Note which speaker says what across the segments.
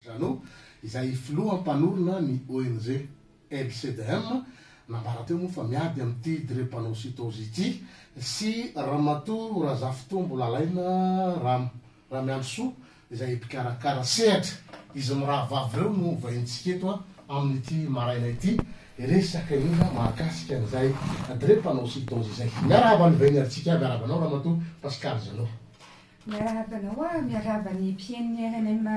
Speaker 1: Jeannot, izay filoha mpanorina ny ONG LCDM, nambara teo moa fa miady amin'ity drepanocytose ity, sy Ramatoa Razafitombo Lalaina Ram, Ramiandrisoa, izay mpikarakara sehatra. Izy mirahavavy ireo no hovaintsika eto amin'ity maraina ity, hiresaka indrindra mahakasika an'izay drepanocytose izay. Miarahaba an'i Vaineritsiaka, miarahaba anao Ramatoa Pascale Jeannot. Miarahaba anao aho, miarahaba
Speaker 2: ny mpihainon'ny rnm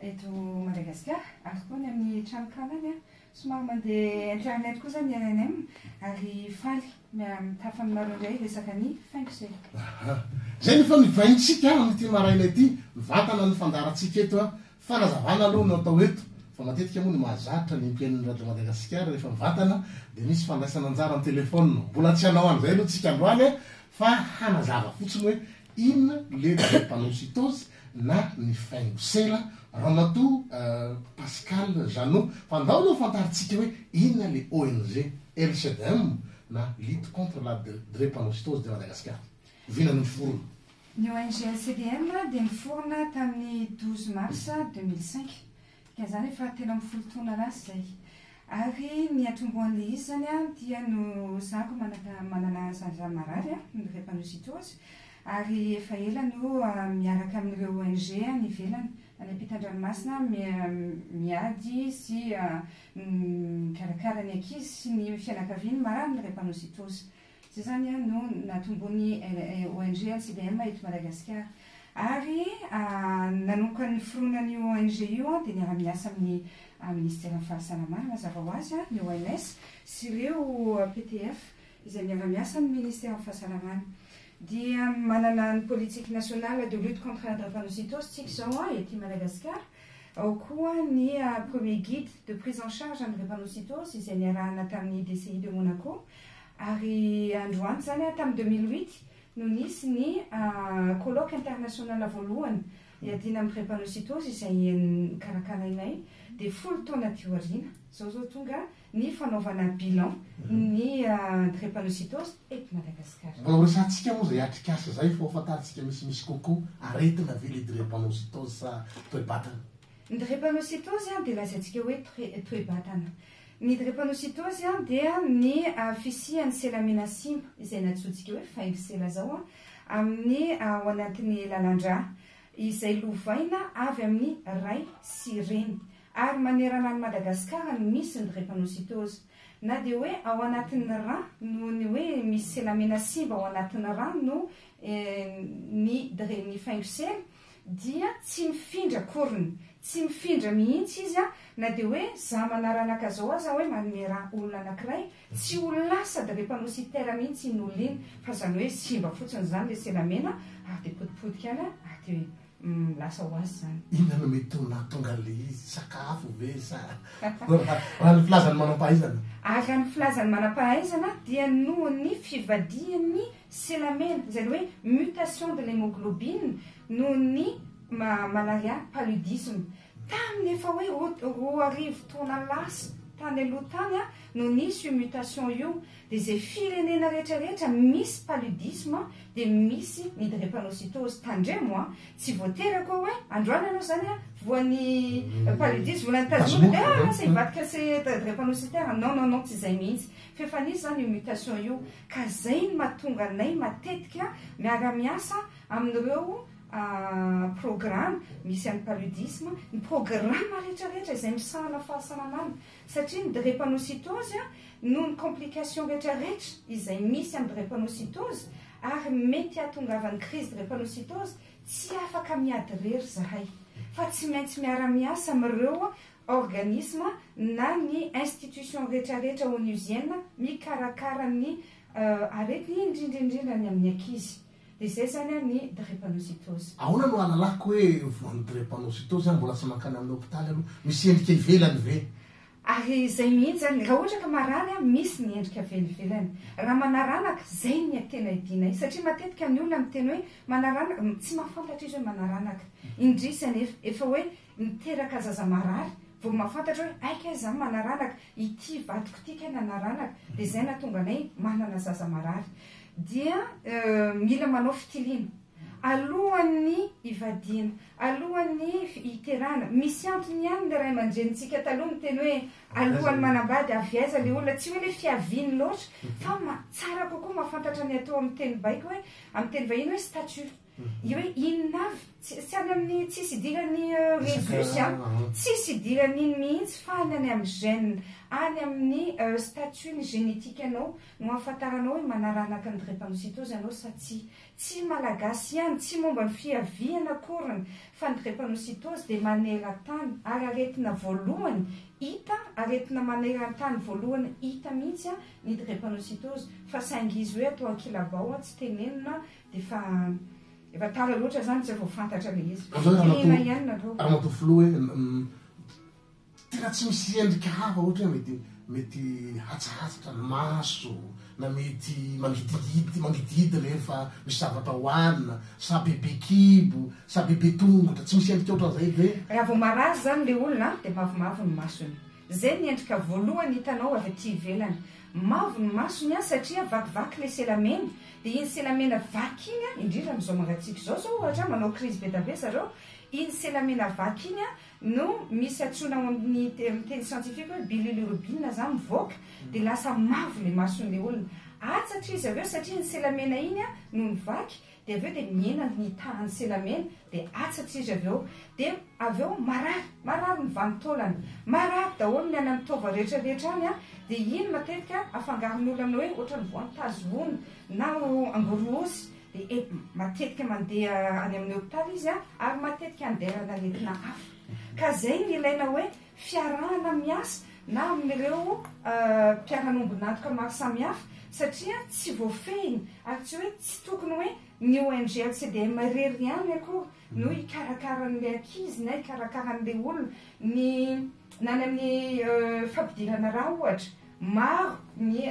Speaker 2: eto Madagasikara ary koa ny amin'ny tranonkalany an! Somary mandeha internet kosa ny rnm ary faly mitafa aminareo indray hiresaka ny faingo se. Aha!
Speaker 1: Izay no efa nivaintsika amin'ity maraina ity, ny vatana no fandaharantsika eto an! Fanazavana aloha no atao eto fa matetika moa ny mahazatra ny mpihaino ny radio Madagasikara rehefa mivantana dia misy fandraisana anjara amin'ny telefaonina. Mbola tsy hanao an'izay aloha tsika androany fa hanazava fotsiny hoe inona le drepanocytose na ny faingosera Ramatoa Pascal Jeannot fa andao aloha fantaritsika hoe inona le ONG LCDM na Lutte contre la drepanocytose de Madagascar. Oviana no niforona? Ny ONG
Speaker 2: LCDM dia niforona tamin'ny douze mars deux mille cinq, dikan'izany efa telo ambin'ny folo taona lasa izay. Ary ny atombohan'ilay izy izany dia noho zandry manana zandry marary, ny drépanocytose, ary efa ela no miaraka amin'ireo ONG any ivelany, any ampitan-dranomasina miady sy mikarakara ny ankizy sy ny fianakaviany marary ny drépanocytose. Izay izany an no natomboin'ny ONG LCBM eto Madagasikara. Ary nanomboka niforonana io ONG io an, dia niara-miasa amin'ny Ministeran'ny Fahasalamana mazava ho azy an, ny OMS, sy ireo PTF izay miara-miasa amin'ny Ministeran'ny Fahasalamana. Dia manana ny politique nationale de lutte contre la drépanocytose tsika izao an, ety Madagasikara. Ao koa ny premier guide de prise en charge an'ny drépanocytose izay niarahana tamin'ny DCI de Monaco. Ary androany izany an, tamin'ny deux mille huit no nisy ny colloque international voalohany iadiana amin'ny drepanocytose izay karakarainay dia folo taona aty aoriana izao izao tonga ny fanaovana bilan ny drepanocytose eto Madagasikara. Mba horesahantsika moa izay
Speaker 1: atrikasa izay fa ho fantarintsika misimisy kokoa, aretina ve ilay drepanocytose sa toe-batana? Ny
Speaker 2: drepanocytose dia lazaintsika hoe toe-batana. Ny drepanositôzy dia ny fisian'ny sela mena simba, izay natsointsika hoe faingo sela izao, amin'ny ao anatin'ny lalan-drà, izay lovaina avy amin'ny ray sy reny. Ary manerana an'i Madagasikara no misy ny drepanositôzy. Na dia hoe ao anatin'ny rà, noho ny hoe misy sela mena simba ao anatin'ny rà no ny dre ny faingo sela, dia tsy mifindra akoriny, tsy mifindra mihitsy izy a, na dia hoe za manaranaka zao aza hoe manome ra olona anakiray, tsy ho lasa dre mpanao siter mihitsy iny olona iny, fa zany hoe simba fotsiny zany le sela mena ary de potipotika any ary de lasa ho azy zany. Inona no mety ho
Speaker 1: nahatonga an'le izy, sakafo ve sa raha ny filazan'ny manam-pahaizana? Ary raha ny filazan'ny
Speaker 2: manam-pahaizana dia nohon'ny fivadihan'ny Selamena, izay hoe mutation de l'hemoglobine noho ny malaria paludisme. Tamin'ny efa hoe roa arivo taona lasa tany aloha tany no nisy io mutation io, dia izay firenena rehetra rehetra misy paludisme dia misy ny drepanocytose. Tandremo an! Tsy voatery akory hoe androany ianao izany voan'ny paludisme volana tazomina dia lasa hivadika drepanocytaire. Non, non, non, tsy izay mihitsy. F'efa nisy izany io mutation io ka izay no mahatonga anay matetika miara miasa amin'ireo programa misy an'ny paludisme, ny programa rehetra rehetra izay misahana fahasalamana satria ny drepanocytose noho ny complication rehetra rehetra izay misy amin'ny drepanocytose ary mety hahatongavan'ny crise drepanocytose tsy afaka miady irery izahay fa tsy maintsy miara miasa amin'ireo organisme na ny institution rehetrarehetra onusienne mikarakara ny aretina indrindra indrindra ny amin'ny ankizy dia izay izany ny drepanocytose. Ahoana no ahalalako
Speaker 1: hoe voan'ny drepanocytose aho mbola tsy mankany amin'ny hopitaly aloha? Misy endrika ivelany ve? Ary izay
Speaker 2: mihitsy izany, raha ohatra ka marary aho, misy ny endrika velivelany. Raha manaranaka, izay ny tena idianay. Satria matetika ny olona miteny hoe manaranaka, tsy mahafantatra izy hoe manaranaka. Indrisy anefa, efa hoe Miteraka zaza marary, vao mahafantatra hoe hay kay za manaranaka, ity vadiko ity kay nanaranaka, dia zay nahatonga anay manana zaza marary. Dia mila manao fitiliana alohan'ny hivadiana, alohan'ny hiterahana. Misy antony ihany ny ray aman-drenintsika taloha niteny hoe alohan'ny manambady avy aiza ilay olona, tsy hoe ilay fiaviany loatra fa tsara kokoa mahafantatra ny atao amin'ny teny baiko hoe, amin'ny teny vahiny hoe statut. Io hoe inona avy? Tsy any amin'ny tsisy idiran'ny resus an, tsisy idiran'iny mihitsy fa any any amin'ny gène, any amin'ny statut-ny génétique-nao no ahafantaranao hoe manaranaka ny drepanocytose ianao sa tsia. Tsy Malagasy ihany, tsy momba ny fiaviana akory ny fa ny drepanocytose dia maneran-tany ary aretina voalohany hita, aretina maneran-tany voalohany hita mihitsy ny drepanocytose fa saingy izy hoe atao an-kilabao, tsy tenenina Efa efa tara loatra zany tsy efa ho fantatra le izy. Aleo ramatoa ramatoa filoha hoe
Speaker 1: tena tsy misy endrika hafa ohatra hoe mety mety hatsahatsatra ny maso na mety mangidihidy mangidihidy rehefa misy zavatra hohanina sa bebe kibo sa bebe tongotra tsy misy endrika ohatran'izay ve? Raha vao marazo zany
Speaker 2: le olona dia mavomavo ny masony Zay ny endrika voalohany hitanao avy aty ivelany. Mavo ny masony an, satria vakivaky ilay sela mena. Dia iny sela mena vaky iny an, indrindra amin'izao mangatsiaka izao zao ohatra an, manao krizy be dia be zareo, iny sela mena vaky iny an no misy antsoina ao amin'ny amin'ny teny siantifika hoe bililirubine zany mivoaka, dia lasa mavo ilay mason'ilay olona. Atsatra izy avy eo satria iny sela mena iny an no nivaky, Dia avy eo dia mihena ny tahan'i Selamena, dia atsatso izy avy eo. Dia avy eo marary, marary ny vanin-taolany, marary daholo ny any amin'ny taova rehetra rehetra any an! Dia iny matetika afangaron'olona aminao hoe ohatran'ny voan-tazo voany na angorohosy, dia matetika mandeha any amin'ny hopitaly izy an! Ary matetika andehanan'aretina hafa. Ka izay no ilaina hoe fiarahana miasa na amin'ireo mpiara-nombon'antoka maro samihafa satria tsy voafehiny ary tsy hoe tsy tokony hoe ny ONG LCDM irery ihany akory no hikarakara an'ilay ankizy na hikarakara an'ilay olona ny na ny amin'ny fampidirana rà ohatra Maro ny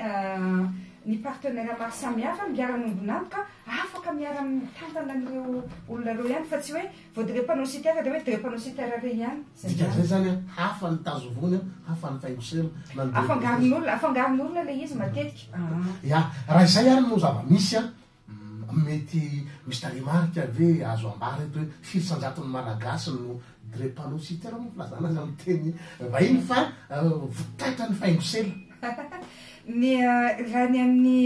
Speaker 2: ny partenaires maro samihafa ny mpiara-miombon'antoka afaka miara-mitantana an'ireo olona ireo ihany fa tsy hoe vao dire panneau citer dia hoe dire panneau citer re ihany. Izay ihany. Dikan'izay izany an,
Speaker 1: hafa ny tazo vony an, hafa ny faingo-sela na ny dire panneau citer. Afangaron'olona,
Speaker 2: afangaron'olona ilay izy matetika. Aa. Ya, raha
Speaker 1: izay ary no zava-misy an, Mety misy tarehimarika ve azo ambara eto hoe firy isan-jaton'ny Malagasy no drepanocytaire moa filazana azy amin'ny teny vahiny fa vokatra ny faingosela? Ny
Speaker 2: raha ny amin'ny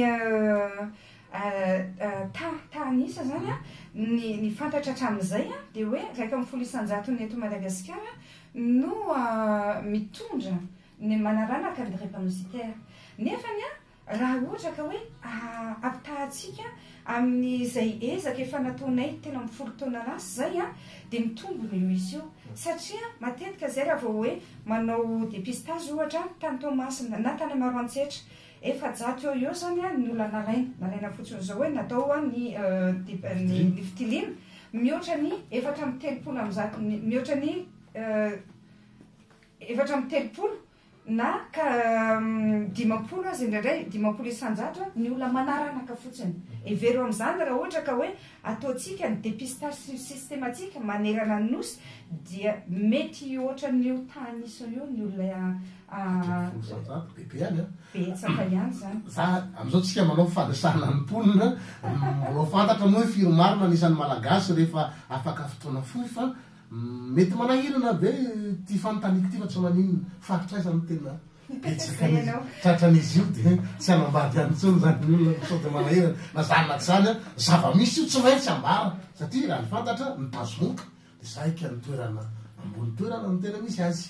Speaker 2: tahanisa izany ny fantatra hatramin'izay dia hoe iraika ambin'ny folo isan-jatony eto Madagasikara no mitondra ny manaranaka ny drepanocytaire nefa ny Raha ohatra ka hoe ampitahatsika amin'izay ezaka efa nataonay telo amby folo taona lasa izay dia mitombona io izy io. Satria matetika izay raha vao hoe manao dépistage ohatra tany Toamasina na tany Maroantsetra, efajato eo ho eo izany ny olona nalaina, nalaina fotsiny izao hoe natao ny ny fitiliana, mihoatra ny efatra amby telopolo amby zato mihoatra ny efatra amby telopolo. na ka dimampolo aza indraindray, dimampolo isan-jato a, ny olona manaranaka fotsiny. Hevero amin'izany raha ohatra ka hoe ataontsika ny dépistage systématique manerana ny Nosy dia mety ohatran'ny io tany isany io ny olona Folo isan-jato, bebe ihany an! betsaka ihany izany. Fa amin'izao tsika
Speaker 1: manao fandresana ny mponina, mbola ho fantatra moa hoe firy marina ny isan'ny Malagasy rehefa afaka fotoana fohy fa Mety manahirana ve ity fanontaniako ity fa tsy maninona fa hatraiza no tena betsaka ny tratran'izy io dia tsy hanambady ihany intsony izany ny olona sao dia manahirana na izany na tsy izany an zava-misy io tsy maintsy ambara satria raha ny fantatra ny bazomoka dia saika ny toerana ambony toerana no tena misy azy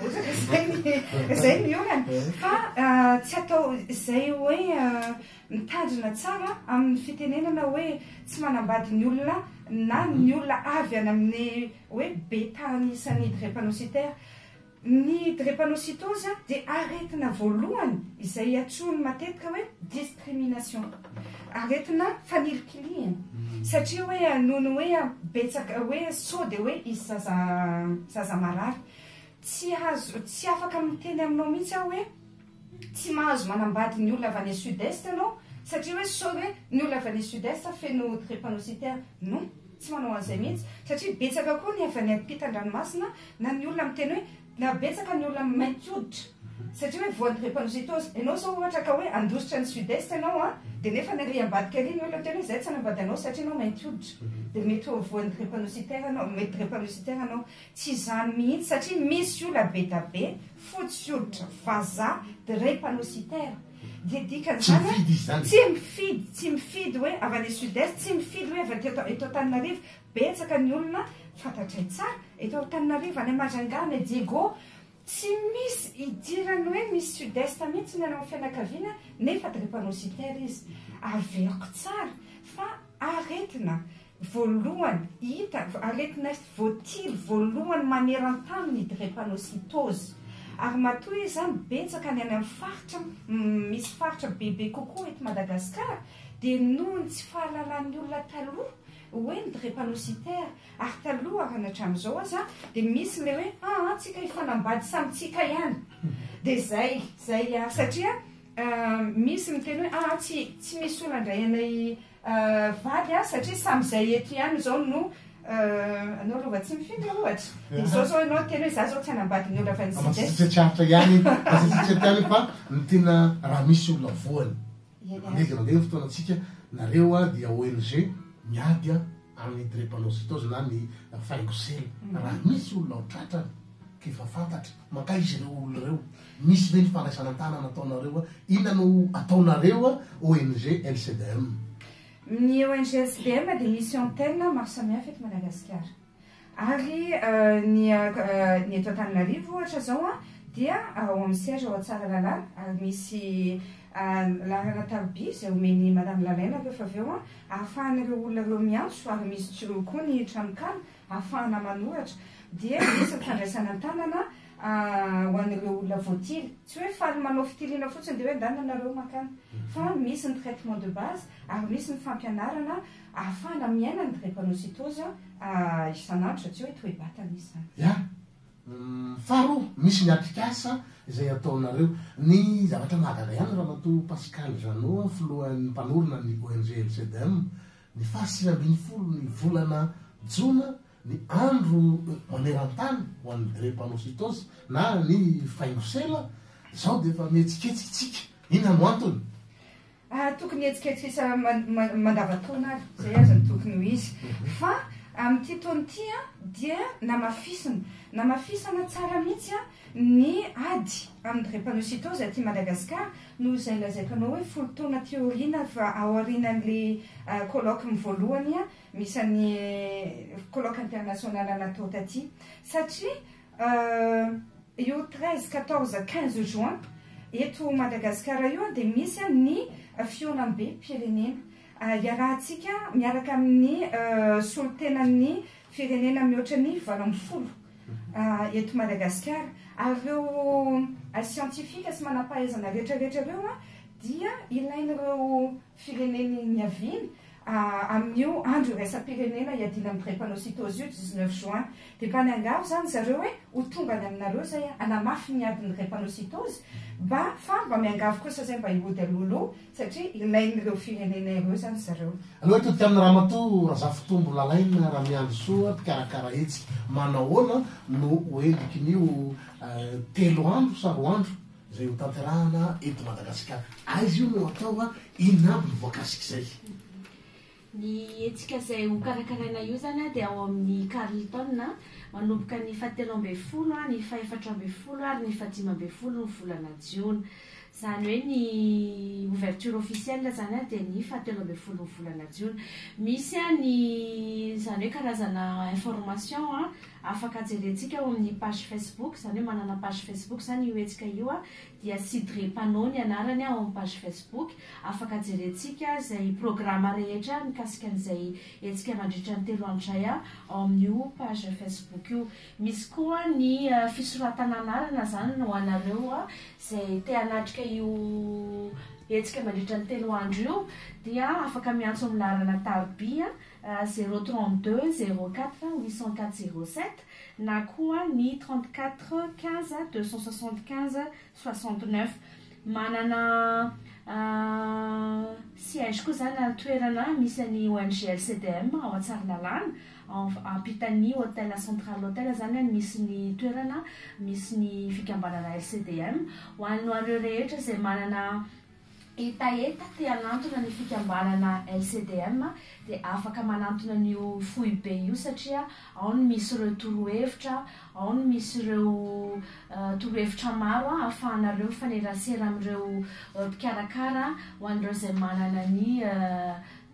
Speaker 2: Ohatra izay ny izay ny olana. Fa tsy atao izay hoe mitandrina tsara amin'ny fitenenana hoe tsy manambady ny olona na ny olona avy any amin'ny hoe be tany isan'ny drepanocytaire. Ny drepanocytose dia aretina voalohany izay iantsoany matetika hoe Crimination. Aretina fanilikilihina. Satria hoe nono hoe betsaka hoe sao dia hoe hisy zaza zaza marary. Tsy azo tsy afaka miteny aminao mihitsy aho hoe tsy mahazo manambady ny olona avy any sud est ianao satria hoe sao hoe ny olona avy any sud est feno drepanocytaire. Non, tsy manao an'izay mihitsy. Satria betsaka koa ny avy any ampitan-dranomasina na ny olona miteny hoe Na betsaka ny olona mainty hoditra satria hoe voan'ny drepanocytose. Ianao zao ohatra ka hoe handositra ny sud est ianao an, dia nefany ary ambadika ary ny olona tena hoe izay tsy hanambady anao satria ianao mainty hoditra. Dia mety ho voan'ny drepanocytaire ianao, mety drepanocytaire ianao. Tsy izany mihitsy satria misy ola bedabe fotsy hoditra vazaha drepanocytaire. Dia dikan'izany an, tsy mifidy, tsy mifidy hoe avy any sud est, tsy mifidy hoe avy aty eto Antananarivo, Betsaka ny olona fantatray tsara eto Antananarivo, any Majunga, any Diego, tsy misy idirany hoe misy sud est mihitsy ianao amin'ny fianakaviana nefa drepanocytaire izy. Averiko tsara fa aretina voalohany hita, aretina voatily voalohany maneran-tany ny drepanocytose ary matoa izy izany betsaka any amin'ny faritra misy faritra bebe kokoa eto Madagasikara dia noho ny tsy fahalalan'ny olona taloha hoe ny drepanocytaire ary taloha ary ny hatramin'izao aza dia misy ilay hoe aa antsika hifanambady samy tsika ihany dia izay izay ary satria misy miteny hoe aa tsy tsy misy olona indray anay vady aho satria samy izay eto ihany izao no anao lova tsy mifindra ohatra dia izao izao ianao teny hoe izaho izao tsy hanambady ny olona fa ny
Speaker 1: sida tsy hatra ihany fa ny tena raha misy olona voany Manegy mandeha ny fotoanantsika, nareo dia ONG miady amin'ny drepanocytose na ny faingo sela. Raha misy olona ao tratrany ka efa fantatra, mankaiza ireo olona ireo? Misy ve ny fandraisana an-tanana ataonareo? Inona no ataonareo ONG LCDM? Ny ONG LCDM dia
Speaker 2: misy antenne maro samihafa eto Madagasikara. Ary ny ny eto Antananarivo ohatra zao an dia ao amin'ny siège ao Tsaralalàna ary misy laharana tarobia izay omen'i Madame Lalaina rehefa avy eo an ahafahan'ireo olona ireo miantso ary misy jiro koa ny tranonkala ahafahana manoratra dia misy ny fandraisana an-tanana ho an'ireo olona voatily. Tsy hoe faly manao fitiliana fotsiny dia hoe andanina nareo mankany fa misy ny traitement de base ary misy ny fampianarana Ahafahana miaina ny drepanocytose isan'andro satria hoe toe-batana izy izany. Ya.
Speaker 1: Faharoa, misy ny atrikasa izay ataonareo. Ny zavatra mahagaga ihany Ramatoa Pascal Jeannot, filohan'ny mpanorina ny ONG LCDM, ny faha sivy ambin'ny folo ny volana jona ny andro maneran-tany ho an'ny drepanocytose na ny faingosela, izao dia efa mihetsiketsika isika. Inona no antony? Ary tokony
Speaker 2: hihetsiketsisa mandavataona ary, izay aza no tokony ho izy. Fa amin'ity taona ity dia namafisina, namafisana tsara mihitsy ny ady amin'ny drepanocytose aty Madagasikara, noho izay lazaiko anao hoe folo taona aty aoriana fa ao aorianan'ilay colloque voalohany misy an'i colloque international natao taty. Satria. Io treize, quatorze, quinze juin eto Madagasikara io dia misy ny fihaonambem-pirenena iarahantsika miaraka amin'ny solontenan'ny firenena mihoatra ny valo ambin'ny folo eto Madagasikara. Ary ireo siantifika sy manam-pahaizana rehetrarehetra ireo dia ilain'ireo fireneny niaviany, amin'io andro iraisam-pirenena iadiana amin'ny drepanocytose io, dix neuf juin. Dia mba niangavy izany ry zareo hoe ho tonga any aminareo izay hanamafy ny ady ny drepanocytose, mba fa mba miangavy kosa izay mba hihody alohaloha satria ilain'ireo firenena ireo izany ry zareo. Aleo hitory tamin'ny
Speaker 1: Ramatoa Razafitombo Lalaina Ramiandrisoa, mpikarakara hetsika, manahoana no ho endrikin'io telo andro sa roa andro Izay ho tanterahana eto Madagasikara. Aiza io no atao a? Inona aby ny voakasik'izay? Ny
Speaker 3: hetsika izay ho karakaraina io izany a dia ao amin'ny Carlton a, manomboka ny fahatelo ambin'ny folo, ny fahefatra ambin'ny folo ary ny fahadimy ambin'ny folo ny volana jiona. Izany hoe ny ouverture officielle izany a dia ny fahatelo ambin'ny folo ny volana jiona. Misy a ny izany hoe karazana information a. afaka jerentsika ao amin'ny page Facebook, izany hoe manana page Facebook izany io hetsika io, dia Sidre Panot ny anarany ao amin'ny page Facebook, afaka jerentsika izay programa rehetra mikasika an'izay hetsika mandritra ny telo andro izay ao amin'io page Facebook io. Misy koa ny fisoratana anarana izany ho anareo izay te hanatrika io hetsika mandritra ny telo andro io dia afaka miantso ny laharana tarobia. zéro trente deux zéro quatre huit cent quatre zéro sept na koa ny trente quatre quinze deux cent soixante quinze soixante neuf. Manana siège koa izany ary toerana misy an'ny ONG LCDM ao Tsaralalàna, ampitan'ny Hotel Central Hotel izany no misy ny toerana misy ny fikambanana LCDM. Ho anareo rehetra izay manana. hetaheta te hanantona ny fikambanana LCDM dia afaka manantona an'io foibe io satria ao no misy ireo torohevitra, ao no misy ireo torohevitra maro ahafahanareo mifanerasera amin'ireo mpikarakara ho an'ireo izay manana ny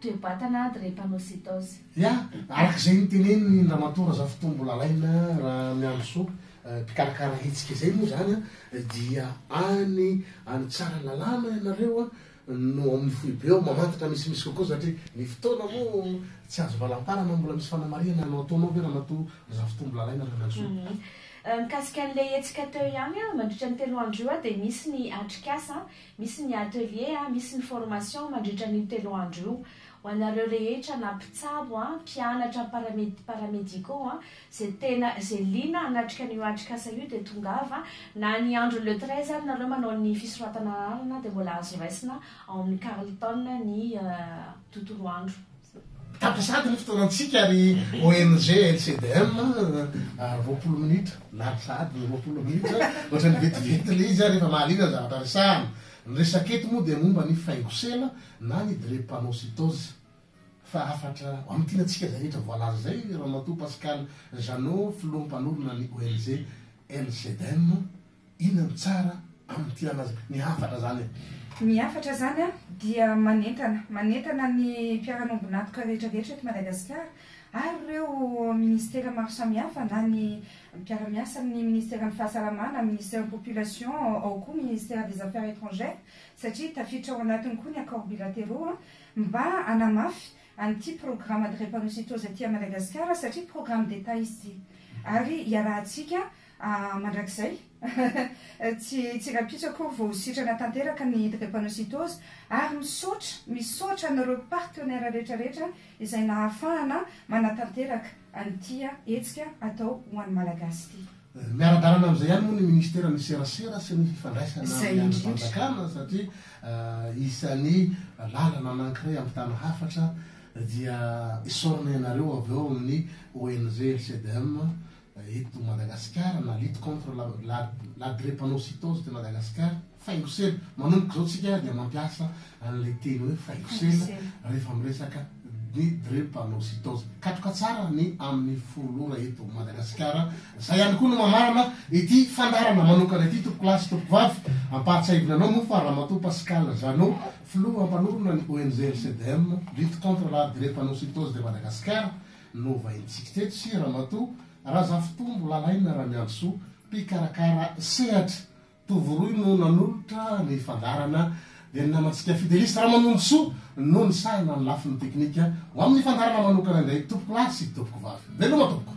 Speaker 3: toe-batana drepanocytose. Ya, araka
Speaker 1: izay notenenin'i Ramatoa Razafitombo Lalaina Ramiandrisoa, mpikarakara hetsika izay moa izany dia any any Tsaralalàna ianareo no amin'ny foibe ao mamantatra misimisy kokoa satria ny fotoana moa tsy azo valamparana mbola misy fanamarihana no ataonao ve Ramatoa Razafitombo Lalaina Randratsoa? Mikasika
Speaker 3: an'ilay hetsika teo ihany an, mandritra ny telo andro io dia misy ny atrikasa, misy ny atelier, misy ny formation mandritra an'io telo andro io. Ho anareo rehetra na mpitsabo, mpianatra, paramed, paramédicaux, Ze tena ze liana hanatrika an'io atrikasa io dia tongava na ny andro le treize ary nareo manao ny fisoratana lalana dia mbola azo raisina ao amin'ny Carlton ny tontolo andro. Tapitra sahady
Speaker 1: ny fotoanantsika ary ONG LCDM roapolo minitra, lany sahady ny roapolo minitra, ohatran'ny vetivety ilay izy ary efa mahaliana ny zavatra resahana. Ny resaka eto moa dia momba ny faingosela na ny drepanocytose. Fahafatra, Mamintina antsika izay rehetra voalaza izay Ramatoa Pascale Jeannot, Filoha Mpanorina ny ONG LCDEM. Inona no tsara amintinana azy ny hafatra izany e? Ny hafatra
Speaker 2: izany dia manentana, manentana ny mpiara-miombon'antoka rehetra rehetra eto Madagasikara ary ireo Ministera maro samihafa na ny mpiara-miasa amin'ny Ministeran'ny Fahasalamana, Ministeran'ny Population, ao koa Ministère des Affaires Étrangères satria tafiditra ao anatiny koa ny Accords Bilatéraux. Mba hanamafy an'ity programme drepanocytose aty Madagascar satria programme d'Etat izy ity. Ary iarahantsika mandrakizay tsy tsy rahampitso akory vao ho sitrana tanteraka ny drepanocytose ary misaotra misaotra an'ireo partenaires rehetra rehetra izay nahafahana manatanteraka an'ity hetsika atao ho an'ny Malagasy ity. Miara-dalana amin'izay
Speaker 1: ihany moa ny Ministeran'ny Serasera sy ny Fifandraisana amin'ny Andrimpanjakana satria isan'ny lalana anankiray hampitana hafatra dia esorina ianareo avy ao amin'ny ONG LCDM eto Madagasikara na Lutte contre la la drépanocytose de Madagascar. Faingosela. Manomboka izao tsika dia mampiasa an'ilay teny hoe faingosela rehefa miresaka ny drepanocytose. Katroka tsara ny amin'ny folo ora eto Madagasikara. Izay ihany koa no mamarana ity fandaharana manokana ity tompoko lahy sy tompoko vavy. Ampahatsiahivina anao moa fa Ramatoa Pascale Jeannot, filoha mpanorina ny ONG LCDM, Lutte contre la drepanocytose de Madagascar, no vahintsika teto sy Ramatoa Razafitombo Lalaina Ramiandosoa, mpikarakara sehatra Tovo rohy no nanolotra ny fandaharana dia ny namantsika Fidelis Ramanonjisoa no nisahana ny lafiny teknika. Ho amin'ny fandaharana manokana indray, Tompokolahy sy Tompokovavy. Veloma tompoko!